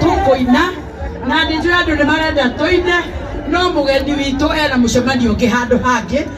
tũkũina na nĩ njũĩ andũ nĩ marenda tũine no mũgeni witũ ena mũcemanio ũngĩ handũ hangĩ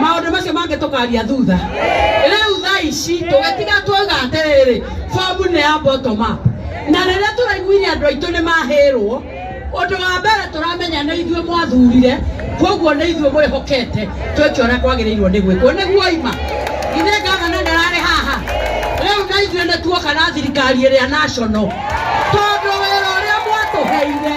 maundu macio mangĩ tũkaria thutha rĩu thaa ici tũgĩtiga twauga atĩrĩrĩ bomu nĩ ya bottom up na rĩrĩa tũraiguire andũ aitũ nĩ mahĩrwo ũndũ wa mbere tũramenya nĩ ithuĩ mwathurire koguo nĩ ithuĩ mwĩhokete twĩke ũrĩa kwagĩrĩirwo nĩ gwĩkwo nĩguo ima ithe ngavana ndararĩ haha rĩu na ithuĩ nĩ tuoka na thirikari ĩrĩa national tondũ wĩra ũrĩa mwatũheire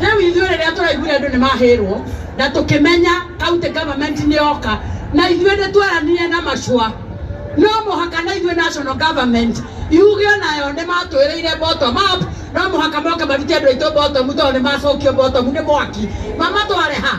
rĩu ithuĩ rĩrĩa tũraiguire andũ nĩ mahĩrwo na tũkĩmenya county government nĩ yoka na ithuĩ nĩ tweranire na macua no mũhaka na ithuĩ national government yuge onayo nĩ matwĩrĩire bottom up no mũhaka moke marute andũ aitũ bottom tondũ nĩ macokio bottom nĩ mwaki mamatware ha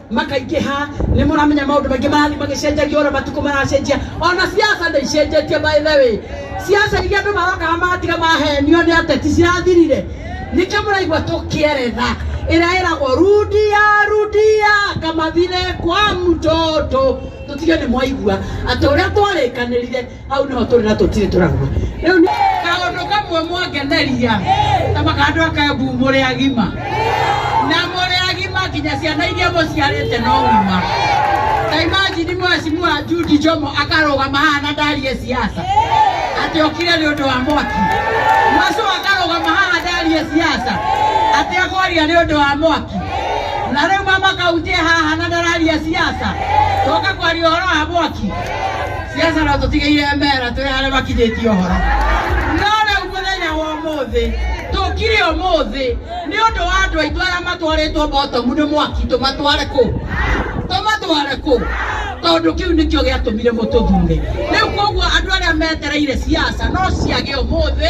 makaingĩha nĩ mũramenya maũndũ maingĩ marathiĩ magĩcenjagia ũrĩa matukũ maracenjia ona siasa nĩ icenjetie by the way siasa iria andũ marokaga magatiga mahenio nĩ ateti cirathirire nĩkĩo mũraigua tũkĩeretha ĩrĩa ĩragwo rudia rudia kama vile kwa mtoto tũtige nĩ mwaigua atĩ ũrĩa twarĩkanĩrire hau nĩho tũrĩ na tũtirĩ tũrauma rĩu nĩ kaũndũ kamwe mwangeneria ta makandũ akambu mũrĩ agima na mũrĩ agima nginya ciana iria mũciarĩte no ng'ima ta imajini mwacimua Judy Jomo akarũgama haha na ndarie siasa atĩ okire nĩ ũndũ wa mwaki Masu akarũgama haha ndarie siasa atĩ akwaria nĩ ũndũ wa mwaki na rĩu mama kaunti e haha na ndararia siasa tũka kwaria ũhoro wa mwaki Jesu arotũtigĩire mera twĩ arĩa makinyĩtie ũhoro no rĩu mũthenya wa ũmũthĩ tũkire ũmũthĩ nĩ ũndũ wa andũ aitũ arĩa matwarĩtwo botomu nĩ mwaki tũmatware kũ tũmatware kũ tondũ kĩu nĩkĩo gĩatũmire mũtũthure rĩu koguo andũ arĩa metereire ciaca no ciage ũmũthĩ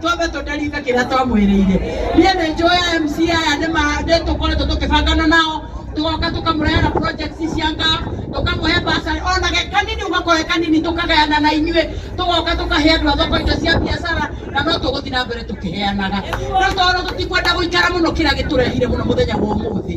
twambe tũndaringa kĩrĩa twamwĩrĩire niĩ nĩ njũĩ MC aya nĩ ma- nĩ tũkoretwo tũkĩbangana nao tũgoka tũkamũrehera projects cia nga tũkamũhe mbaca ona ge kanini ũgakoe kanini tũkagayana na inyuĩ tũgoka tũkahe andũ a thoko indo cia biacara na no tũgũthiĩ na mbere tũkĩheanaga no tondũ tũtikwenda gũikara mũno kĩrĩa gĩtũrehire mũno mũthenya wa ũmũthĩ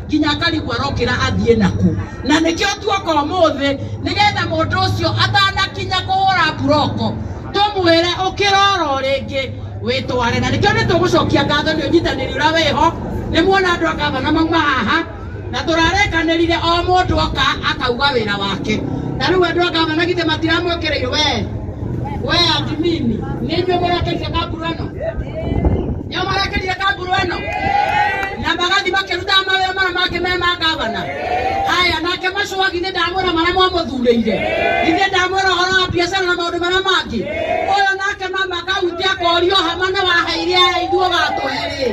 nginya akarigwo arokĩra athiĩ naku na nĩkĩo tuoka ũmũthĩ nĩgetha mũndũ ũcio atanakinya kũhũra buroko tũmwĩre ũkĩroro rĩngĩ wĩtware na nĩkĩo nĩ tũgũcokia ngatho nĩ ũnyitanĩri ũrĩa wĩho nĩ muona andũ a gavana mauma haha na tũrarekanĩrire o mũndũ oka akauga wĩra wake na rĩu andũ a gavana githĩ matiramwĩkĩrĩire we we admini nĩ inyuĩ mũrateithia kambura ĩno Nĩo marakĩrire kanguru ĩno na magathi makĩrutaga mawĩra mara mangĩ me ma ngavana. Haya, nake Macũwagi nĩ ndamwĩra marĩa mwamũthurĩire, ithe ndamwĩra ũhoro wa biacara na maũndũ marĩa mangĩ. Ũyũ nake mama kaunti akorio hama nĩ waheire aya ithuĩ gatũhe rĩ,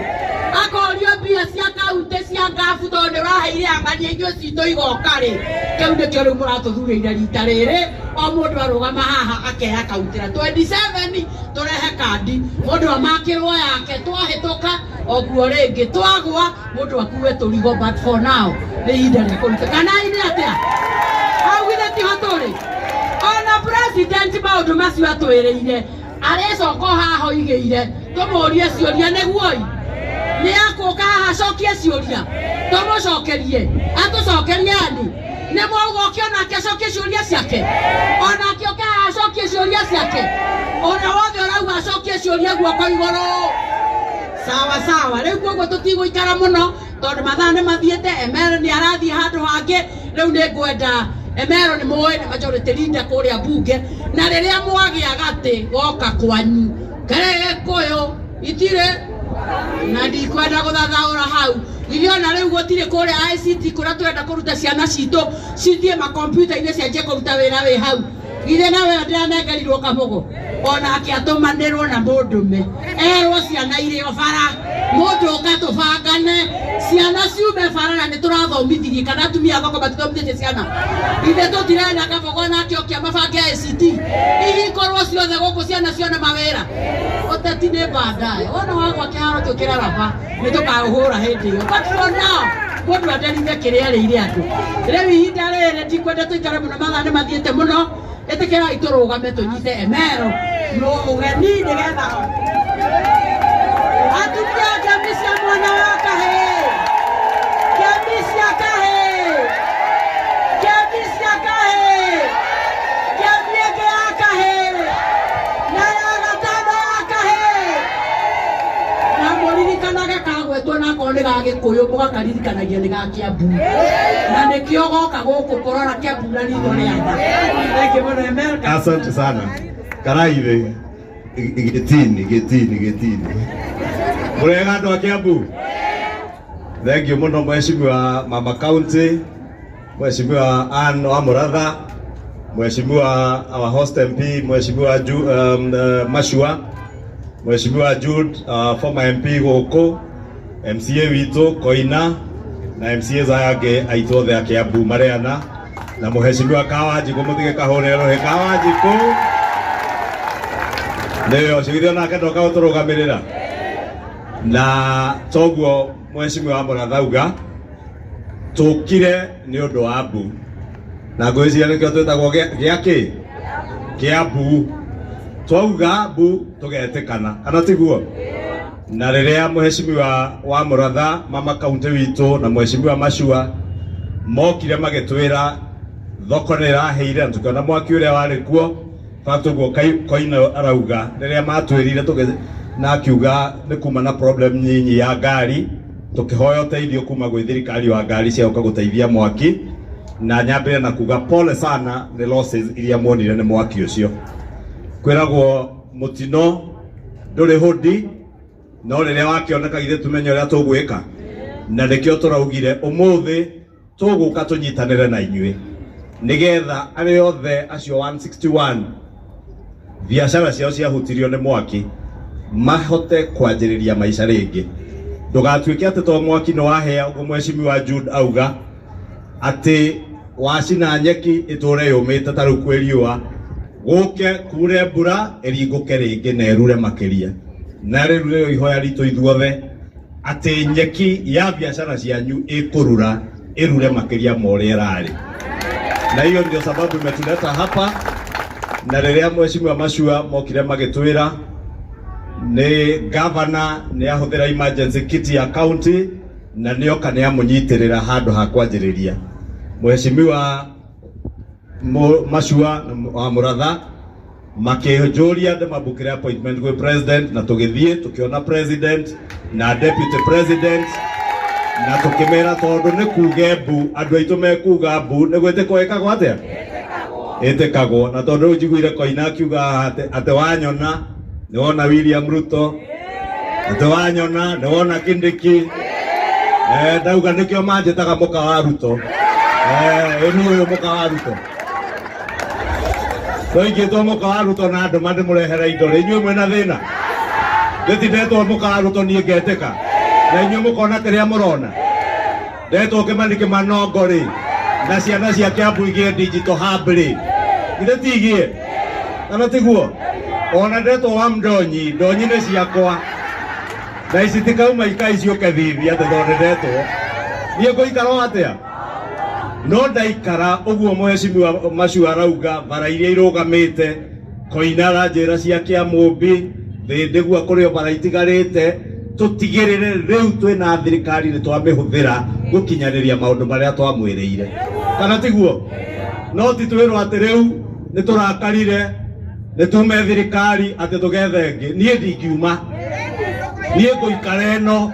akorio mbia cia kaunti cia ngabu tondũ nĩ waheire ang'ania ithuĩ citũ igoka rĩ, kĩu nĩkĩo rĩu mũratũthurĩire rita rĩrĩ, o mũndũ arũgama haha akeya kaunti na 27 Tũrehe kandi, mũndũ amakĩrwo yake, twahĩtũka oguo rĩngĩ, twagwa mũndũ akue tũrigo, but for now nĩ ihinda rĩa kũruta kanai nĩ atĩa hau githĩ tiho tũrĩ ona president maũndũ macio atwĩrĩire arĩcoka haha oigĩire tũmũrie ciũria nĩguoi nĩ akũka haha acokie ciũria tũmũcokerie atũcokerie ani nĩ mwauga oke onake acokie ciũria ciake onake oke haha acokie ciũria ciake ũrĩa wothe ũrauga acokie ciũria guoko igũrũ sawa sawa rĩu koguo tũtigũikara mũno tondũ mathaa nĩ mathiĩte emero nĩ arathiĩ handũ hangĩ rĩu nĩ ngwenda emero nĩ mũĩ nĩ majority leader kũrĩa mbunge na rĩrĩa mwagĩa gatĩ goka kwanyu karege kũyũ itirĩ na ndikwenda gũthathaũra hau ithe ona rĩu gũtirĩ kũrĩa ICT kũrĩa tũrenda kũruta ciana citũ cithiĩ makompyuta-inĩ cianjie kũruta wĩra wĩ hau ithe nawe ndiranengerirwo kabogo onake atũmanĩrwo na mũndũme erwo ciana irĩ o bara mũndũ ũka tũbangane ciana ciume bara na nĩ tũrathomithirie kana atumia bako matithomithĩtie ciana ithe tũtirenda kabogo nake okia mabange ICT ihinkorwo ciothe gũkũ ciana cione mawĩra Ũteti nĩ bandae wona wagwa kĩharo kĩu kĩraraba nĩ tũkaũhũra hĩndĩ ĩyo but for now mũndũ anderithe kĩrĩa arĩire andũ rĩu ihinda rĩrĩ ndikwenda tũikare mũno mathaa nĩ mathiĩte mũno ĩtĩkĩrai tũrũgame tũnyite emero no ũgeni nĩgetha atumia ngemi cia mwana wa kahĩĩ ngemi cia kahĩĩ ngemi kamũririkanaga kagwetwo na akorwo nĩ gagĩkũyũ mũgakaririkanagia nĩ ga kĩambu na nĩkĩo goka gũkũ kũrora kĩambu na ritho rĩa tha Thank you, Brother America. asante sana karai thĩ gĩtini gĩtini gĩtini mũrega andũ a kĩambu thengiũ mũno mheshimiwa mama kaunti Mheshimiwa Ann Wamuratha, Mheshimiwa our host MP, Mheshimiwa Ju, um, uh, Mashua, Mheshimiwa Jude, uh, former MP Goko, MCA witũ Koina na MCAs aya angĩ aitũ othe a Kiambu marĩ ana na Mheshimiwa Kawanjikũ mũtige kahũre rũhĩ Kawanjikũ nĩwe ũcio githĩ onake ndoka gũtũrũgamĩrĩra na toguo Mheshimiwa Wambora Thauga tũkire nĩ ũndũ wa mbu na ngwĩciria nĩkĩo twĩtagwo gĩa- gĩa kĩ kĩa mbu twauga mbu tũgetĩkana kana tiguo na rĩrĩa mheshimiwa wa mũratha mama kaunti witũ na mheshimiwa macua mokire magĩtwĩra thoko nĩ ĩraheire na tũkĩona mwaki ũrĩa warĩ kuo Tatu guo koina arauga riria matwirire tuge na akiuga ni kuma na problem nyinyi ya ngari tukihoya uteithio kuma gwi thirikari wa ngari cia uka guteithia mwaki na nyambire na kuga pole sana ni losses iria mwonire ni mwaki ucio kwiragwo mutino nduri hudi no riria wakioneka githe tumenye uria tugwika na nikio turaugire umuthi tũgũka tũnyitanĩre na inyuĩ nĩgetha arĩa othe acio 161 biacara ciao ciahutirio nĩ mwaki mahote kwanjĩrĩria maica rĩngĩ ndũgatuĩke atĩ to mwaki nĩ wahĩa ũguo mweshimiwa Jude auga atĩ wacina nyeki ĩtũre yũmĩte ta rĩu kwĩ riũa gũke kure mbura ĩringũke rĩngĩ na ĩrure makĩria na rĩu nĩrĩo ihoya ritũ ithuothe atĩ nyeki ya biashara cianyu ĩkũrura ĩrure makĩria ma ũrĩa ĩrarĩ, na hiyo ndio sababu imetuleta hapa. Na rĩrĩa mheshimiwa Mashua mokire magĩtwĩra nĩ gavana nĩ ahũthĩra emergency kit ya county na nĩoka nĩ amũnyitĩrĩra handũ ha kwanjĩrĩria mheshimiwa Mu- Mashua wa Mũratha makĩnjũria ndĩ mabukire appointment gwĩ president na tũgĩthiĩ tũkĩona president na deputy president na tũkĩmera tondũ nĩ kuge mbu andũ aitũ mekuga mbu nĩ gwĩtĩkwo ĩkagwo atĩa ĩtĩkagwo na tondũ rĩu njiguire koina akiuga haha atĩ- atĩ wanyona nĩ wona william ruto atĩ wanyona nĩ wona kindiki Eh, ndauga nĩkĩo manjĩtaga mũka wa ruto Eh, ĩni ũyũ mũka wa ruto twaingĩtwo mũkaarutwo na ndũma ndĩmũrehere indo rĩ inyuĩ mwĩna thĩna ndĩtindetwo mũkaarutwo niĩ ngetĩka na inyuĩ mũkona kĩrĩa mũrona ndetwo kĩmani kĩmanongo rĩ na ciana cia kĩambu igĩe ndinjito hambi rĩ githĩ tigĩe kana tiguo ona ndetwo wa mdonyi ndonyi nĩ ciakwa na ici tikauma ikai ciũke thithi atĩ tondũ ndetwo niĩ ngũikara o atĩa no ndaikara uguo mweshimiwa macio arauga bara iria irugamite koinara njira cia kia mumbi thindigua kurio bara itigarite tutigirire riu twina thirikari ni twamihuthira gukinyaniria maundu maria twamwirire kana tiguo no ti twirwo ati riu ni turakarire ni tume thirikari ati tugethe ngi nie ndingiuma nie nguikara ino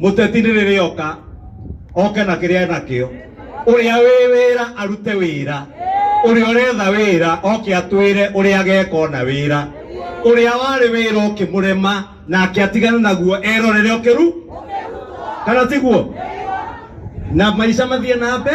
mũteti nĩ rĩrĩ oka oke na kĩrĩa enakĩo ũrĩa wĩ wĩra arute wĩra ũrĩa ũretha wĩra oke atwĩre ũrĩa ageka ona wĩra ũrĩa warĩ wĩra ũkĩmũrema nake atigane naguo erorere ũkĩru kana tiguo na maica mathiĩ na mbe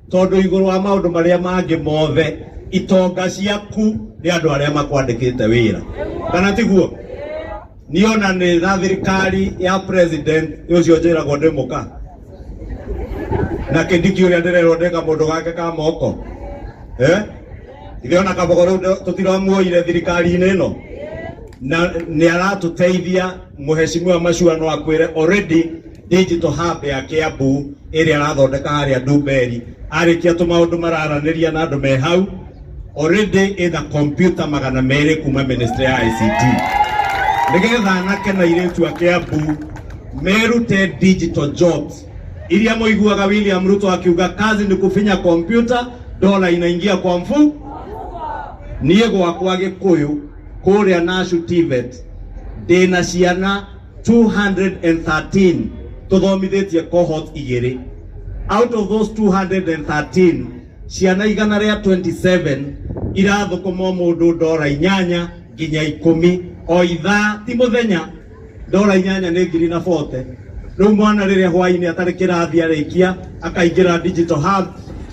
tondũ igũrũ wa maũndũ marĩa mangĩ mothe itonga ciaku nĩ andũ arĩa makwandĩkĩte wĩra kana tiguo niona nĩ na thirikari ya president ũcio njĩragwo ndĩ mũka na kindiki ũrĩa ndĩrerwo ndĩ kamũndũ gake ka moko eh? ithe ona kabogo rĩu ndũ- tũtiramuoire thirikari-inĩ ĩno na nĩ aratũteithia mũheshimiwa macua no akwĩre already Digital Hub ya Kiambu ĩrĩa arathondeka harĩa Ndumberi arĩkia tũmaũndũ mararanĩria na andũ me hau already ĩna kompyuta magana merĩ kuma ministry ya ICT nĩgetha anake na irĩtu a Kiambu merute digital jobs iria mũiguaga William Ruto akiuga kazi ni kufinya kompyuta dola inaingia kwa mfu niĩ gwakwa Gĩkũyũ kũrĩa Nashu TVET ndĩna ciana 213 tũthomithĩtie cohort igĩrĩ out of those 213 ciana igana rĩa 27 irathũkũma o mũndũ ndora inyanya nginya ikũmi o ithaa ti mũthenya ndora inyanya nĩ ngiri na bote rĩu mwana rĩrĩa hwainĩ atarĩ kĩrathi arĩkia akaingĩra digital hub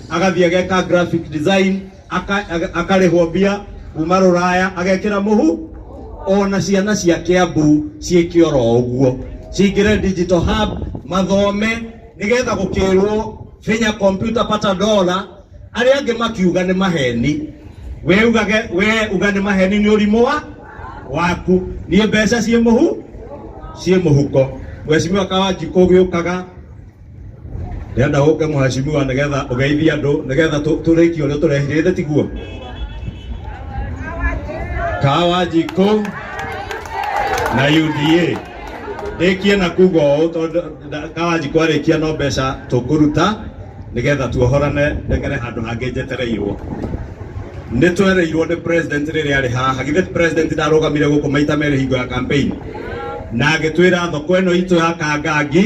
agathiĩ ageka graphic design aka- aga- akarĩhwo mbia kuma rũraya agekĩra mũhu ona ciana cia kĩambu ciĩke oro ũguo cingĩre digital hub mathome nĩgetha gũkĩrwo finya computer pata dola arĩa angĩ makiuga nĩ maheni we ugage we uga nĩ maheni nĩ ũrimũ wa waku niĩ mbeca ciĩ mũhu ciĩ mũhuko mwecimiwa kawanji kũgĩũkaga ndĩrenda ũke mũhacimiwa nĩgetha ũgeithie andũ nĩgetha tũ- tũrĩkie ũrĩa tũrehirĩte tiguo kawa njikũ na UDA ndĩkie na kuga ũũ tondũ nda- kawa njikũ arĩkia no mbeca tũkũruta nĩgetha tuohorane ndegere handũ hangĩ njetereirwo nĩ twereirwo nĩ president rĩrĩa arĩ haha githĩ president ndarũgamire gũkũ maita merĩ hingo ya campaign na agĩtwĩra thoko ĩno itũ ya kangangi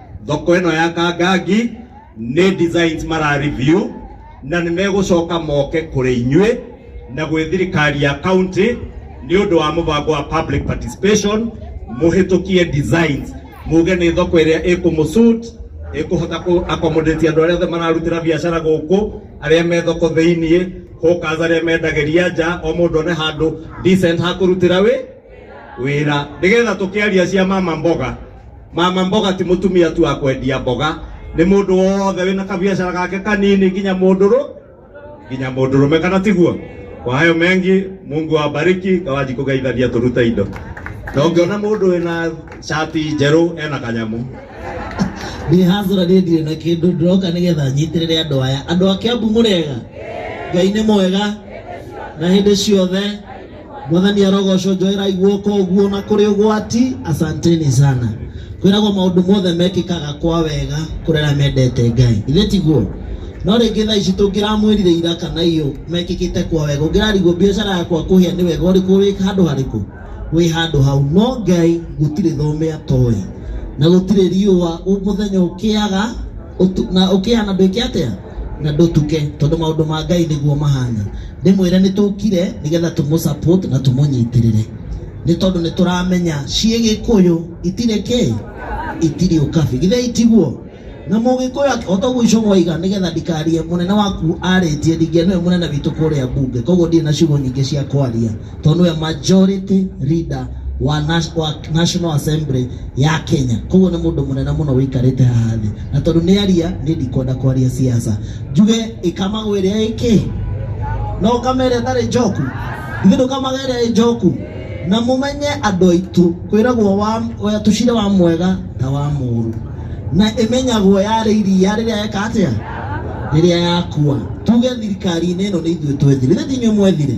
thoko ĩno ya kangangi nĩ designs mara review na nĩ megũcoka moke kũrĩ inyuĩ na gwĩ thirikari ya county nĩ ũndũ wa mũbango wa public participation mũhĩtũkie designs muge nĩ thoko ĩrĩa ĩkũmũsuit ĩkũhota kũ accommodate andũ arĩa othe mararutĩra biacara gũkũ arĩa me thoko thĩiniĩ hũkaza arĩa mendagĩria nja o mũndũ one handũ decent ha kũrutĩra wĩ wĩra nĩgetha tũkĩaria cia mama mboga mama mboga ti mũtumia tu wa kwendia mboga nĩ mũndũ wothe wĩna kabiacara gake kanini nginya mũndũrũ nginya mũndũrũme kana tiguo kwa hayo mengi mungu awabariki ngawanji kũgeithania tũrute indo na ũngĩona mũndũ wĩna shati njerũ ena kanyamu nä hazora nä ndirä na kä ndå ndä roka nä getha nyitä rä re andå aya andå a kä ambu må rega ngai nä mwega na hä ndä ciothe mwathani arogocwo njoerai guoko ũguo na kũrĩ ũgwati asanteni sana kwĩragwo maũndũ mothe mekĩkaga kwa wega kũrĩ arĩa mendete ngai ithe tiguo no rĩngĩ thaa ici tũngĩramwĩrire ira kana iyũ mekĩkĩte kwa wega ũngĩrarigwo biacara yakwa kũhĩa nĩ wega ũrĩkũ wĩ handũ harĩkũ wĩ handũ hau no ngai gũtirĩ thomea toĩ na gũtirĩ riũa mũthenya ũkĩaga ũtu- na ũkĩhana ndwĩke atĩa na ndũtuke tondũ maũndũ ma ngai nĩguo mahana ndĩmwĩre nĩ tũkire nĩgetha tũmũ support na tũmũnyitĩrĩre nĩ tondũ nĩ tũramenya ciĩ gĩkũyũ itirĩ kĩ itirĩ ũkabi githĩ itiguo na mũgĩkũyũ o toguo icũgwa iga nĩgetha ndikarie mũnene waku arĩtie ndingĩenũwe mũnene witũ kũrĩa mbunge koguo ndirĩ na ciugo nyingĩ cia kwaria to nĩwe majority leader wa nas- wa national assembly ya kenya koguo nĩ mũndũ mũnene mũno wĩikarĩte haha thĩ na tondũ nĩ aria nĩ ndikwenda kwaria siasa njuge ĩkamagwo ĩrĩa ĩkĩ no ũkama ĩrĩa ĩtarĩ njoku ithuĩ ndũkamaga ĩrĩa ĩ njoku na mũmenye andũ aitũ kwĩragwo wa- wa- tũcire wa mwega ta wa mũũru na ĩmenyagwo yarĩ iria rĩrĩa eka atĩa rĩrĩa yakua tuge thirikari-inĩ ĩno nĩ ithuĩ twethire ithe tinyuĩ mwethire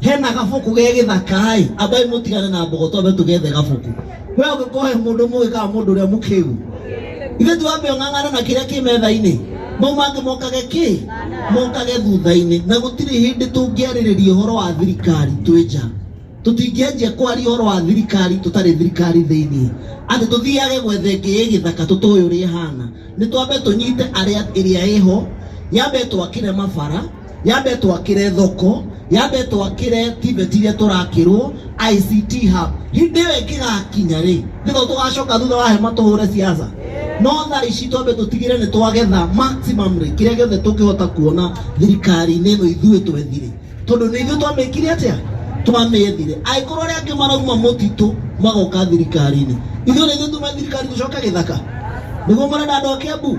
hena gabuku ge gĩthaka-ĩ ambai mũtigane na mbogo twambe tũgethe gabuku we ũngĩkorwo he mũndũ mũgĩ kana mũndũ ũrĩa mũkĩu ithe tuambe ũng'ang'ana na kĩrĩa kĩ metha-inĩ mau mangĩ mokage kĩ mokage thutha-inĩ na gũtirĩ hĩndĩ tũngĩarĩrĩria ũhoro wa thirikari twĩ nja tũtingĩanjia kwaria ũhoro wa thirikari tũtarĩ thirikari thĩinĩ atĩ tũthiage gwetha ĩngĩ ĩ gĩthaka tũtũĩ ũrĩa ĩhana nĩ twambe tũnyite arĩa ĩrĩa ĩho yambe twakĩre mabara yambe twakire thoko yambe twakire tiveti iria turakirwo ict hub hindi iyo ingigakinya ri nitho tugacoka thutha wa hema tuhure siasa no tha ici twambe tutigire ni twagetha maximum ri kiria giothe tungihota kuona thirikari-inĩ ĩno ithuĩ twethire tondu ni ithuĩ twamĩkire atia twamĩethire angĩkorwo arĩa angĩ marauma mũtitũ magoka thirikari-inĩ ithuĩ nĩ ithuĩ tume thirikari tũcoke gĩthaka nĩguo mũrenda andũ a Kiambu